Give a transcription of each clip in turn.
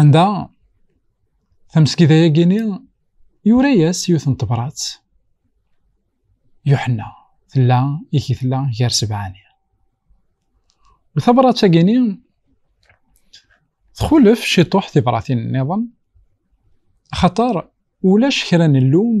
Anda tameskida-yagini yura-yas yiwet n tebrat Yuḥenna tella i tella gar sebɛani. U tabrat-agini txulef ciṭuḥ tibratin-nniḍen axaṭer ulac kra n llum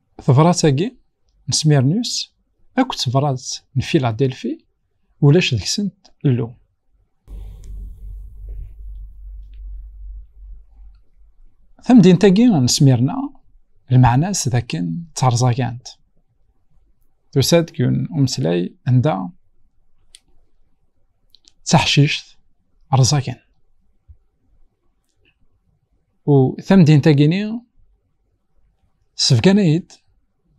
Tebrat-agi n Smirnus akked tebrat n Filadelfi ulac deg-sent llu. Tamdint-agi n Smirna lmeɛna-s d akken d tarẓagant. Tusa-d deg umeslay anda d taḥcict rẓagan. U tamdint-agi-ni Sefgan-iyi-d,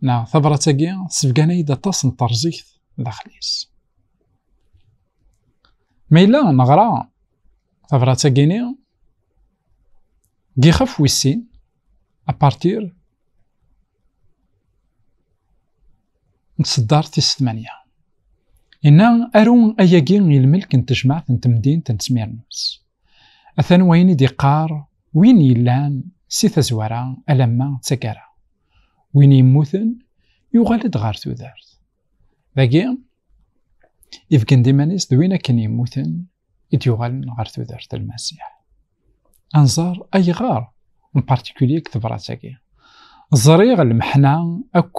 neɣ tabrat-agi, sefgan-iyi-d aṭas n terẓigt daxel-is. Ma yella neɣra tabrat-agi-ni, deg yixef wis sin, apartir n tseddart tis tmanya. Yenna aru ayagi i lmelk n tejmaɛt n temdint n Smirnus. Atan wayen i d-iqqar win yellan si tazwara alamma d taggara. Win yemmuten yuɣal-d ɣer tudert. Dagi, ibgen-d iman-is d win akken yemmuten i d-yuɣalen ɣer tudert Lmasiḥ. Anẓar ayɣer en particulier deg tebrat-agi. Ẓriɣ lmeḥna akk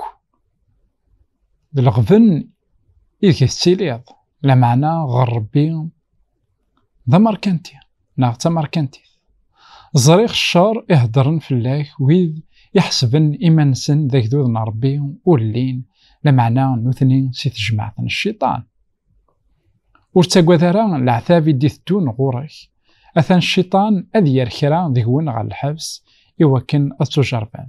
d leɣben ideg tettiliḍ, lameɛna ɣer Rebbi d amerkanti neɣ d tamerkantit ẓriɣ ccer i heddren fell-ak wid iḥesben iman-nsen d agdud n Ṛebbi ur llin lameɛna nutni si tejmaɛt n cciṭan ur ttagad ara leɛtab i d-iteddun ɣur-k atan cciṭan ad yerr kra deg-wen ɣer lḥebs i wakken ad tujerrben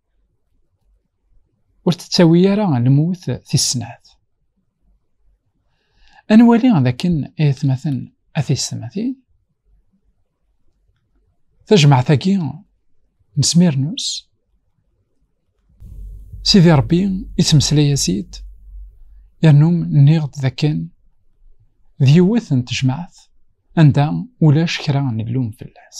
ur tettawi ara lmut tis snat. Ad nwali d akken ay atmaten a tiyessetmatin tajmaɛt-agi n Smyrnus Sidi Rebbi yettmeslay-as-id yernu nniɣ-d d akken d yiwet n tejmaɛt anda ulac kra n llum fell-as.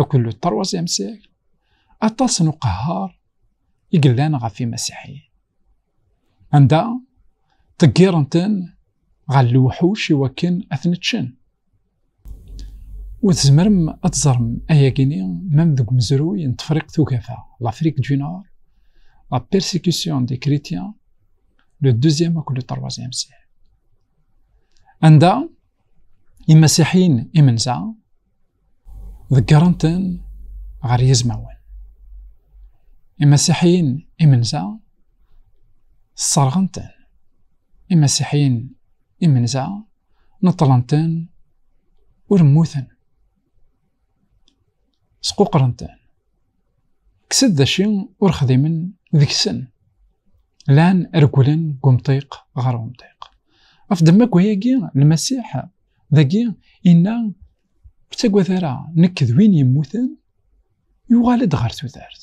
Akked le troisième siècle, aṭas n uqehhar i yellan ɣef imasiḥiyen. Anda ṭeggiren-ten ɣer lewḥuc i wakken ad ten-ččen. Ur tzemrem ad teẓrem ayagi-ni même deg umezruy n Tefriqt Ugafa, l'Afrique du Nord, la persécution des chrétiens, le deuxième akked le troisième siècle. Anda imasiḥiyen imenza ḍeggren-ten ɣer yizmawen imasiḥiyen imenza sserɣen-ten imasiḥiyen imenza neṭṭlen-ten ur mmuten squqren-ten kksen d aci ur xdimen deg-sen lan regglen deg umṭiq ɣer umṭiq ɣef demma n wayagi lmasiḥ dagi inna ur ttagad ara nekk d win yemmuten yuɣal-d ɣer tudert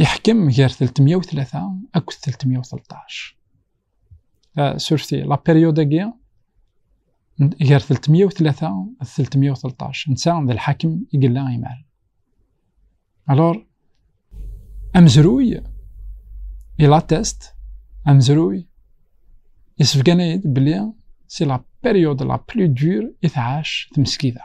Yeḥkem gar 303 akked 313. Surfti, la période-agi, gar 303 d 313, netta d lḥakem i yella imal. Alors, amezruy, il atteste, amezruy, yessebgan-iyi-d belli si la période la plus dure i tɛac tmeskida.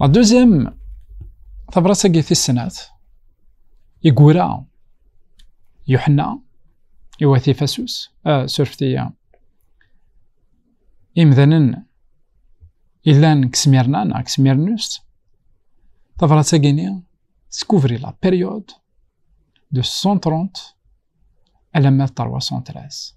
La deuxième, tabrat-agi tis snat, igura Yuḥenna, iwati Fasus, euh, surfti euh, imdanen ilan deg Smirna neɣ deg Smirnust, tabrat-agi-ni teskuvri la période de 130 alamma d 313.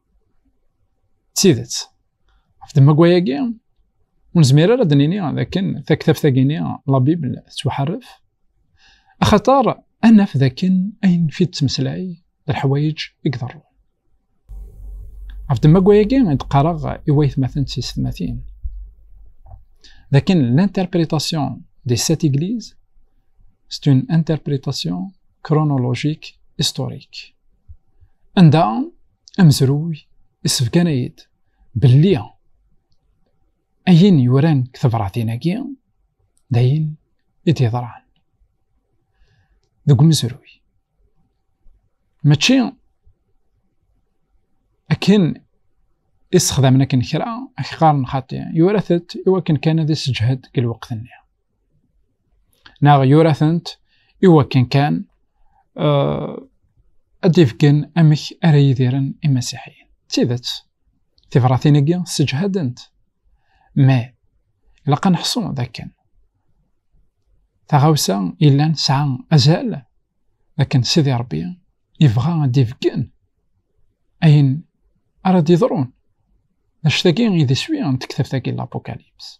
d tidet ɣef demmagwa-agi ur nezmir ara ad nini dakken taktabt-agi-ni la Bible tettwaḥaref axaṭer ad naf dakken ayen fi d-temeslay d leḥwayeǧ i iḍerrun ɣef demmagwa-agi i d-qqareɣ i waytmaten d tisetmatin dakken l'interprétation des sept églises c'est une interprétation chronologique historique anda amezruy isefkan-ay-d belli ayen yuran deg tebṛatin-agi d ayen i d-yeḍran deg umezruy mačči akken isexdamen akken kra ak qqaren xaṭi yurat-d iwakken kan ad isseǧhed deg lweqt-nni neɣ yura-tent iwakken kan uh, ad d-ifgen amek ara yidiren imasiḥiyen. D tidet, tibratin-agi sseǧhadent. Ma ilaq ad neḥṣu d akken taɣawsa yellan tesɛa azal d akken Sidi Ṛebbi yebɣa ad d-ifgen ayen ara d-iḍrun. D acu-tagi i d iswi n tektabt-agi n l-Apocalypse.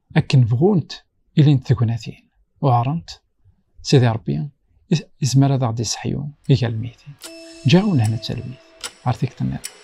akken bɣunt ilint tegnatin uɛrent sidi rebbi izmer ad aɣ-d iseḥyu igal lmitin ǧaɣ unehna d talwit ɣer tikti nniḍen